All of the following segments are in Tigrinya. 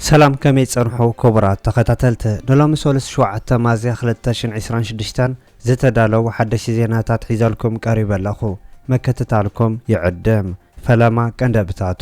ሰላም ከመይ ጸንሑ ክቡራት ተኸታተልቲ ንሎሚ ሰሉስ ሸውዓተ ማዝያ ክልተ ሽን ዕስራን ሽዱሽተን ዝተዳለዉ ሓደሽቲ ዜናታት ሒዘልኩም ቀሪበ ኣለኹ ምክትታልኩም ይዕድም ፈለማ ቀንደብታቱ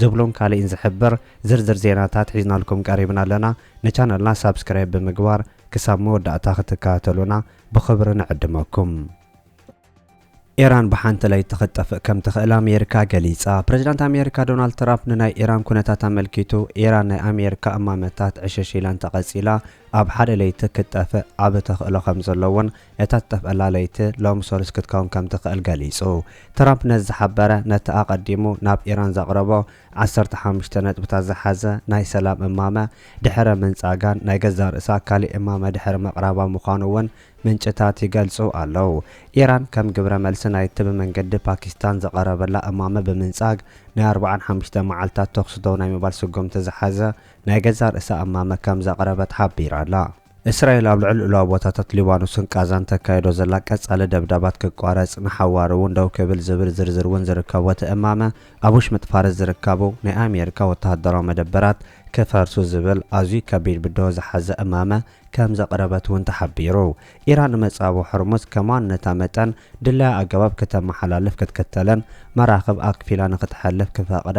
ዝብሉን ካሊእን ዝሕብር ዝርዝር ዜናታት ሒዝናልኩም ቀሪብና ኣለና ንቻነልና ሳብስክራይብ ብምግባር ክሳብ መወዳእታ ክትከታተሉና ብኽብሪ ንዕድመኩም። ኢራን ብሓንቲ ለይቲ ክትጠፍእ ከም ትኽእል ኣሜሪካ ገሊጻ። ፕረዚዳንት ኣሜሪካ ዶናልድ ትራምፕ ንናይ ኢራን ኩነታት ኣመልኪቱ ኢራን ናይ ኣሜሪካ እማመታት ዕሽሽ ኢላ እንተቐጺላ ኣብ ሓደ ለይቲ ክትጠፍእ ዓቢ ተኽእሎ ከም ዘሎ እውን እታ ትጠፍኣላ ለይቲ ሎሚ ሰሉስ ክትከውን ከም ትኽእል ገሊጹ። ትራምፕ ነዚ ዝሓበረ ነቲ ኣቐዲሙ ናብ ኢራን ዘቕረቦ ዓሰርተ ሓሙሽተ ነጥብታት ዝሓዘ ናይ ሰላም እማመ ድሕሪ ምንጻጋን ናይ ገዛእ ርእሳ ካልእ እማመ ድሕሪ ምቕራባ ምዃኑ እውን ምንጭታት ይገልጹ ኣለዉ። ኢራን ከም ግብረ መልሲ ናይቲ ብመንገዲ ፓኪስታን ዝቐረበላ እማመ ብምንጻግ ናይ ኣርብዓን ሓሙሽተ መዓልታት ተኹሲ ደው ናይ ምባል ስጉምቲ ዝሓዘ ናይ ገዛእ ርእሳ እማመ ከም ዘቕረበት ሓቢራ'ላ። እስራኤል ኣብ ልዕሊ ሉኣዊ ቦታታት ሊባኖስን ቃዛን ተካይዶ ዘላ ቀጻሊ ደብዳባት ክቋረጽ፣ ንሓዋሩ እውን ደው ክብል ዝብል ዝርዝር እውን ዝርከቦ እቲ እማመ፣ ኣብ ውሽምጥ ፋርስ ዝርከቡ ናይ ኣሜሪካ ወተሃደራዊ መደበራት ክፈርሱ ዝብል ኣዝዩ ከቢድ ብድሆ ዝሓዘ እማመ ከም ዘቕረበት እውን ተሓቢሩ። ኢራን ንመጻብቦ ሆርሙዝ ከም ዋንነታ መጠን ድላያ ኣገባብ ክተመሓላልፍ ክትክተልን መራኽብ ኣክፊላ ንክትሐልፍ ክፈቕዳ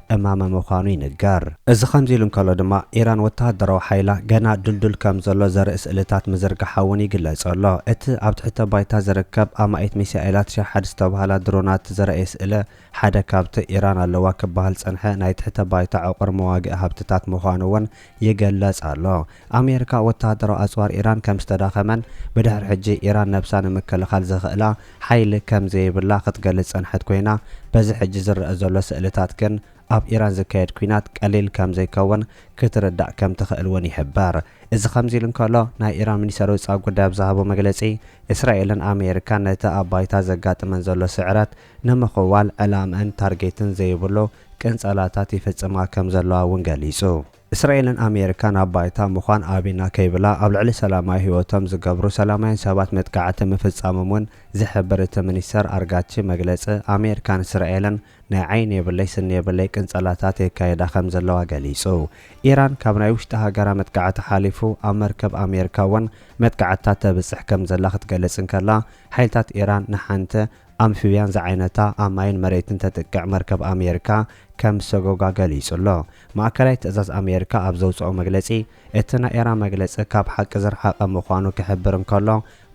እማመ ምዃኑ ይንገር። እዚ ከምዚ ኢሉ እንከሎ ድማ፣ ኢራን ወተሃደራዊ ሓይላ ገና ድልዱል ከም ዘሎ ዘርኢ ስእልታት ምዝርጋሓ እውን ይግለጽ ኣሎ። እቲ ኣብ ትሕተ ባይታ ዝርከብ ኣማኢት ሚሳኤላት ሻሓድ ዝተባህላ ድሮናት ዘርእይ ስእለ፣ ሓደ ካብቲ ኢራን ኣለዋ ክበሃል ዝጸንሐ ናይ ትሕተ ባይታ ዕቑር መዋግኢ ሃብትታት ምዃኑ እውን ይገለጽ ኣሎ። ኣሜሪካ ወተሃደራዊ ኣጽዋር ኢራን ከም ዝተዳኸመን ብድሕሪ ሕጂ ኢራን ነብሳ ንምክልኻል ዘኽእላ ሓይሊ ከም ዘይብላ ክትገልጽ ዝጸንሐት ኮይና፣ በዚ ሕጂ ዝረኣ ዘሎ ስእልታት ግን ኣብ ኢራን ዝካየድ ኲናት ቀሊል ከም ዘይከውን ክትርዳእ ከም ትኽእል እውን ይሕበር። እዚ ከምዚ ኢሉ እንከሎ፣ ናይ ኢራን ሚኒስተር ወጻኢ ጉዳይ ኣብ ዝሃቦ መግለጺ፣ እስራኤልን ኣሜሪካን ነቲ ኣብ ባይታ ዘጋጥመን ዘሎ ስዕረት ንምኽዋል ዕላምእን ታርጌትን ዘይብሉ ቅንጸላታት ይፍጽማ ከም ዘለዋ እውን ገሊጹ። እስራኤልን ኣሜሪካን ኣብ ባይታ ምዃን ኣቢና ከይብላ ኣብ ልዕሊ ሰላማዊ ህይወቶም ዝገብሩ ሰላማውያን ሰባት መጥቃዕቲ ምፍጻሞም እውን ዝሕብር እቲ ሚኒስተር ኣርጋቺ መግለጺ ኣሜሪካን እስራኤልን ናይ ዓይኒ የብለይ ስኒ የብለይ ቅንጸላታት የካይዳ ከም ዘለዋ ገሊጹ። ኢራን ካብ ናይ ውሽጢ ሃገራ መጥቃዕቲ ሓሊፉ ኣብ መርከብ ኣሜሪካ እውን መጥቃዕትታት ተብጽሕ ከም ዘላ ክትገልጽ እንከላ ሓይልታት ኢራን ንሓንቲ ኣምፊብያን ዝዓይነታ ኣብ ማይን መሬትን ተጥቅዕ መርከብ ኣሜሪካ ከም ሰጎጋ ገሊጹ ኣሎ። ማእከላይ ትእዛዝ ኣሜሪካ ኣብ ዘውጽኦ መግለጺ፣ እቲ ናይ ኤራን መግለጺ ካብ ሓቂ ዝረሓቐ ምዃኑ ክሕብር እንከሎ፣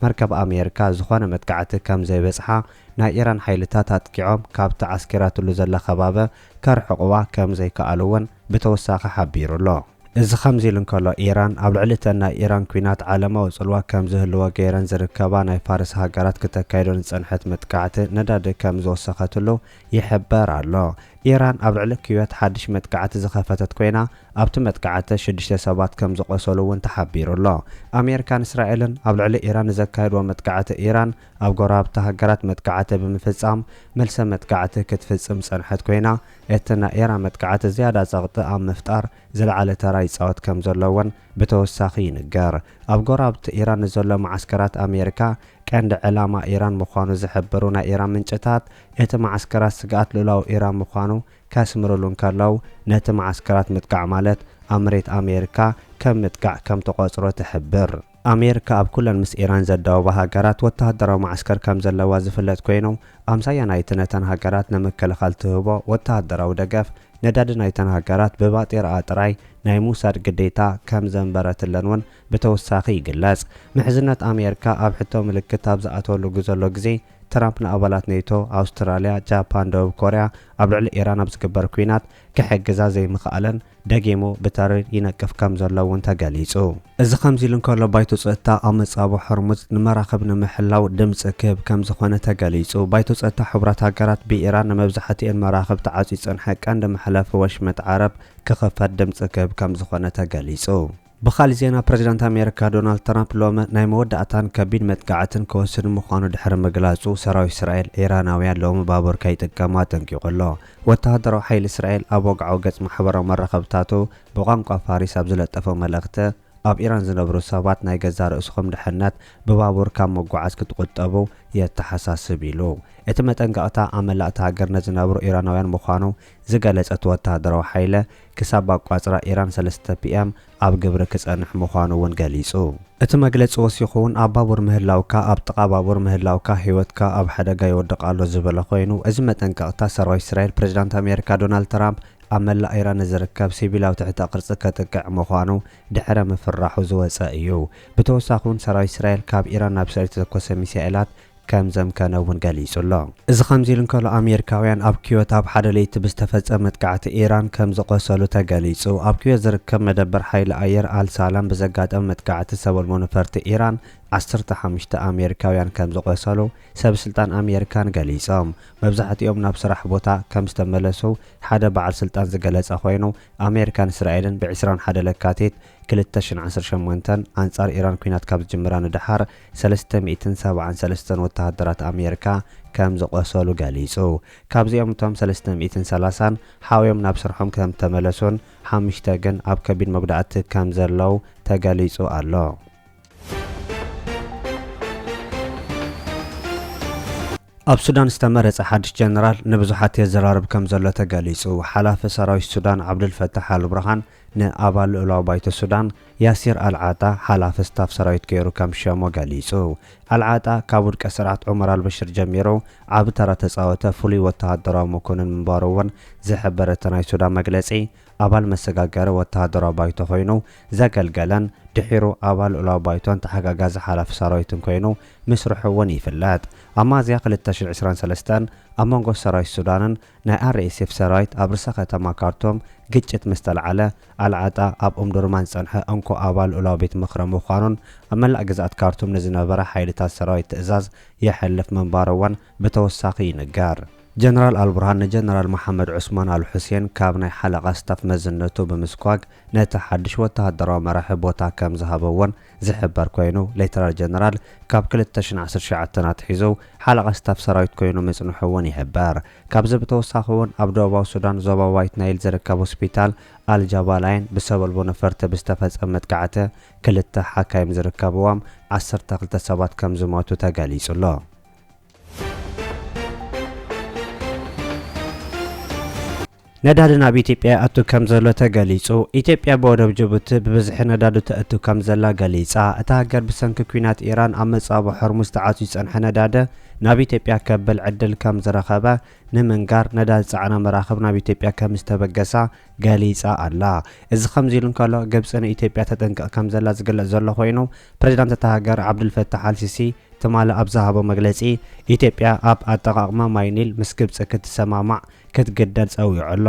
መርከብ ኣሜሪካ ዝኾነ መጥቃዕቲ ከም ዘይበጽሓ ናይ ኢራን ሓይልታት ኣጥቂዖም ካብቲ ዓስኪራትሉ ዘላ ከባቢ ከርሕቑዋ ከም ዘይከኣሉ'ውን ብተወሳኺ ሓቢሩ ኣሎ። እዚ ከምዚ ኢሉ እንከሎ፣ ኢራን ኣብ ልዕሊ እተን ናይ ኢራን ኲናት ዓለማዊ ጽልዋ ከም ዝህልዎ ገይረን ዝርከባ ናይ ፋርስ ሃገራት ክተካይዶ ንዝጸንሐት መጥቃዕቲ ነዳዲ ከም ዝወሰኸትሉ ይሕበር ኣሎ። ኢራን ኣብ ልዕሊ ኩዌት ሓድሽ መጥቃዕቲ ዝኸፈተት ኮይና፣ ኣብቲ መጥቃዕቲ ሽዱሽተ ሰባት ከም ዝቖሰሉ'ውን ተሓቢሩ ኣሎ። ኣሜሪካን እስራኤልን ኣብ ልዕሊ ኢራን ንዘካየድዎ መጥቃዕቲ ኢራን ኣብ ጎረባብቲ ሃገራት መጥቃዕቲ ብምፍጻም መልሰ መጥቃዕቲ ክትፍጽም ዝጸንሐት ኮይና፣ እቲ ናይ ኤራ መጥቃዕቲ ዝያዳ ጸቕጢ ኣብ ምፍጣር ዝለዓለ ተራ ይጻወት ከም ዘሎ እውን ብተወሳኺ ይንገር። ኣብ ጎረባብቲ ኢራን ንዘሎ መዓስከራት ኣሜሪካ ቀንዲ ዕላማ ኢራን ምዃኑ ዝሕብሩ ናይ ኢራን ምንጭታት፣ እቲ መዓስከራት ስግኣት ልኡላዊ ኢራን ምዃኑ ከስምርሉ እንከለው፣ ነቲ መዓስከራት ምጥቃዕ ማለት ኣብ መሬት ኣሜሪካ ከም ምጥቃዕ ከም ትቖጽሮ ትሕብር። ኣሜርካ ኣብ ኩለን ምስ ኢራን ዘዳውባ ሃገራት ወተሃደራዊ መዓስከር ከም ዘለዋ ዝፍለጥ ኮይኑ፣ ኣምሳያ ናይቲ ነተን ሃገራት ንምክልኻል ትህቦ ወተሃደራዊ ደገፍ፣ ነዳዲ ናይተን ሃገራት ብባጤራኣ ጥራይ ናይ ምውሳድ ግዴታ ከም ዘንበረትለን እውን ብተወሳኺ ይግለጽ። ምሕዝነት ኣሜርካ ኣብ ሕቶ ምልክት ኣብ ዝኣተወሉ ግዘሎ ግዜ፣ ትራምፕ ንኣባላት ኔቶ፣ ኣውስትራልያ፣ ጃፓን፣ ደቡብ ኮርያ ኣብ ልዕሊ ኢራን ኣብ ዝግበር ኲናት ክሕግዛ ዘይምኽኣለን፣ ደጊሙ ብተሪር ይነቅፍ ከም ዘሎ እውን ተገሊጹ። እዚ ከምዚ ኢሉ እንከሎ ባይቶ ጸጥታ ኣብ መጻብቦ ሆርሙዝ ንመራኽብ ንምሕላው ድምጺ ክህብ ከም ዝኾነ ተገሊጹ። ባይቶ ጸጥታ ሕቡራት ሃገራት ብኢራን ንመብዛሕትኤን መራኽብ ተዓጽዩ ዝጸንሐ ቀንዲ መሕለፊ ወሽመጥ ዓረብ ክኽፈት ድምጺ ክህብ ከም ዝኾነ ተገሊጹ። ብኻልእ ዜና ፕረዚዳንት ኣሜሪካ ዶናልድ ትራምፕ ሎሚ ናይ መወዳእታን ከቢድ መጥቃዕትን ክወስድ ምዃኑ ድሕሪ ምግላጹ፣ ሰራዊት እስራኤል ኢራናውያን ሎሚ ባቡር ከይጥቀሙ ኣጠንቂቑ ኣሎ። ወተሃደራዊ ሓይሊ እስራኤል ኣብ ወግዓዊ ገጽ ማሕበራዊ መራኸብታቱ ብቋንቋ ፋሪስ ኣብ ዝለጠፎ መልእኽቲ፣ ኣብ ኢራን ዝነብሩ ሰባት ናይ ገዛእ ርእስኹም ድሕነት ብባቡር ካብ ምጉዓዝ ክትቑጠቡ የተሓሳስብ ኢሉ። እቲ መጠንቀቕታ ኣብ መላእ እታ ሃገር ንዝነብሩ ኢራናውያን ምዃኑ ዝገለጸ እቲ ወተሃደራዊ ሓይሊ፣ ክሳብ ኣቋፅራ ኢራን ሰለስተ ፒኤም ኣብ ግብሪ ክፀንሕ ምዃኑ እውን ገሊፁ። እቲ መግለፂ ወሲኹ እውን ኣብ ባቡር ምህላውካ ኣብ ጥቓ ባቡር ምህላውካ ህይወትካ ኣብ ሓደጋ ይወድቕ ኣሎ ዝበለ ኮይኑ እዚ መጠንቀቕታ ሰራዊት እስራኤል ፕሬዝዳንት ኣሜሪካ ዶናልድ ትራምፕ ኣብ መላእ ኢራን ንዝርከብ ሲቪላዊ ትሕተ ቅርፂ ከጥቅዕ ምዃኑ ድሕረ ምፍራሑ ዝወፀ እዩ። ብተወሳኺ እውን ሰራዊት እስራኤል ካብ ኢራን ናብ እስራኤል ዝተተኮሰ ሚሳኤላት ከም ዘምከነ እውን ገሊጹ ኣሎ። እዚ ከምዚ ኢሉ እንከሎ ኣሜሪካውያን ኣብ ኩዌት ኣብ ሓደ ለይቲ ብዝተፈጸመ መጥቃዕቲ ኢራን ከም ዝቖሰሉ ተገሊጹ። ኣብ ኩዌት ዝርከብ መደበር ሓይሊ ኣየር ኣል ሳላም ብዘጋጠመ መጥቃዕቲ ሰበልቦ ነፈርቲ ኢራን ዓሰርተ ሓሙሽተ ኣሜሪካውያን ከም ዝቖሰሉ ሰብ ስልጣን ኣሜሪካን ገሊጾም። መብዛሕትኦም ናብ ስራሕ ቦታ ከም ዝተመለሱ ሓደ በዓል ስልጣን ዝገለጸ ኮይኑ ኣሜሪካን እስራኤልን ብ ዕስራን ሓደ ለካቲት ክልተ ሽሕን ዓሰርተ ሸሞንተን ኣንጻር ኢራን ኲናት ካብ ዝጅምራ ንደሓር ሰለስተ ሚእትን ሰብዓን ሰለስተን ወተሃደራት ኣሜሪካ ከም ዝቖሰሉ ገሊጹ። ካብዚኦም እቶም ሰለስተ ሚእትን ሰላሳን ሓውዮም ናብ ስርሖም ከም እተመለሱን ሓሙሽተ ግን ኣብ ከቢድ መጉዳእቲ ከም ዘለዉ ተገሊጹ ኣሎ። ኣብ ሱዳን ዝተመረጸ ሓድሽ ጀነራል ንብዙሓት የዘራርብ ከምዘሎ ተገሊጹ። ሓላፊ ሰራዊት ሱዳን ዓብዱልፈታሕ ኣልቡርሃን ንኣባል ልኡላዊ ባይቶ ሱዳን ያሲር ኣልዓጣ ሓላፊ ስታፍ ሰራዊት ገይሩ ከም ሸሞ ገሊጹ። ኣልዓጣ ካብ ውድቀት ስርዓት ዑመር ኣልበሽር ጀሚሩ ዓቢ ተራ ተጻወተ ፍሉይ ወተሃደራዊ መኮንን ምንባሩ'ውን ዝሕብር እቲ ናይ ሱዳን መግለጺ፣ ኣባል መሰጋገሪ ወተሃደራዊ ባይቶ ኮይኑ ዘገልገለን ድሒሩ ኣባል ልኡላዊ ባይቶን ተሓጋጋዚ ሓላፊ ሰራዊትን ኮይኑ ምስርሑ'ውን ይፍለጥ። ኣብ ሚያዝያ ክልተ ሽሕ ዕስራን ሰለስተን ኣብ መንጎ ሰራዊት ሱዳንን ናይ RSF ሰራዊት ኣብ ርእሰ ከተማ ካርቱም ግጭት ምስ ተልዓለ፣ ኣልዓጣ ኣብ ኡምዱርማን ዝጸንሐ እንኮ ኣባል ልኡላዊ ቤት ምኽሪ ምዃኑን ኣብ መላእ ግዝኣት ካርቱም ንዝነበራ ሓይልታት ሰራዊት ትእዛዝ የሕልፍ ምንባሩ'ውን ብተወሳኺ ይንገር። ጀነራል ኣልቡርሃን ንጀነራል መሓመድ ዑስማን ኣልሑሴን ካብ ናይ ሓለቓ ስታፍ መዝነቱ ብምስጓግ ነቲ ሓድሽ ወተሃደራዊ መራሒ ቦታ ከም ዝሃበዎን ዝሕበር ኮይኑ፣ ሌተናል ጀነራል ካብ ክልተ ሽሕ ዓሰርተ ትሽዓተ ኣትሒዙ ሓለቓ ስታፍ ሰራዊት ኮይኑ ምጽንሑ'ውን ይሕበር። ካብዚ ብተወሳኺ'ውን ኣብ ደቡባዊ ሱዳን ዞባ ዋይት ናይል ዝርከብ ሆስፒታል ኣል-ጃባላይን ብሰበልቦ ነፈርቲ ብዝተፈጸመ መጥቃዕቲ ክልተ ሓካይም ዝርከብዎም ዓሰርተ ክልተ ሰባት ከም ዝሞቱ ተገሊጹ'ሎ። ነዳዲ ናብ ኢትዮጵያ ይኣቱ ከምዘሎ ተገሊጹ። ኢትዮጵያ ብወደብ ጅቡቲ ብብዝሒ ነዳዲ ተእቱ ከምዘላ ገሊጻ። እታ ሃገር ብሰንኪ ኲናት ኢራን ኣብ መጻብቦ ሆርሙዝ ተዓጽዩ ዝጸንሐ ነዳዲ ናብ ኢትዮጵያ ከብል ዕድል ከምዝረኸበ ንምንጋር ነዳዲ ዝጸዓና መራኽብ ናብ ኢትዮጵያ ከምዝተበገሳ ገሊጻ ኣላ። እዚ ከምዚ ኢሉ እንከሎ ግብጺ ንኢትዮጵያ ተጠንቅቕ ከምዘላ ዝግለጽ ዘሎ ኮይኑ ፕሬዝዳንት እታ ሃገር ዓብዱልፈታሕ ኣልሲሲ ትማሊ ኣብ ዝሃቦ መግለጺ፣ ኢትዮጵያ ኣብ ኣጠቓቕማ ማይ ኒል ምስ ግብጺ ክትሰማማዕ ክትግደድ ጸዊዑ ኣሎ።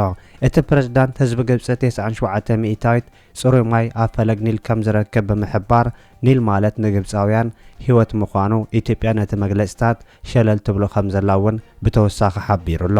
እቲ ፕረዚዳንት፣ ህዝቢ ግብጺ ቴስዓን ሸውዓተ ሚእታዊት ጽሩይ ማይ ኣብ ፈለግ ኒል ከም ዝረክብ ብምሕባር፣ ኒል ማለት ንግብጻውያን ህይወት ምዃኑ፣ ኢትዮጵያ ነቲ መግለጺታት ሸለል ትብሎ ከም ዘላ'ውን ብተወሳኺ ሓቢሩ'ሎ።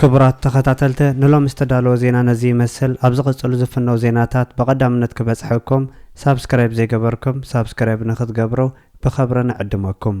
ክቡራት ተኸታተልተ ንሎሚ ዝተዳለወ ዜና ነዚ ይመስል ኣብ ዝቕጽሉ ዝፍነው ዜናታት ብቐዳምነት ክበጽሐኩም ሳብስክራይብ ዘይገበርኩም ሳብስክራይብ ንኽትገብሩ ብኸብሪ ንዕድመኩም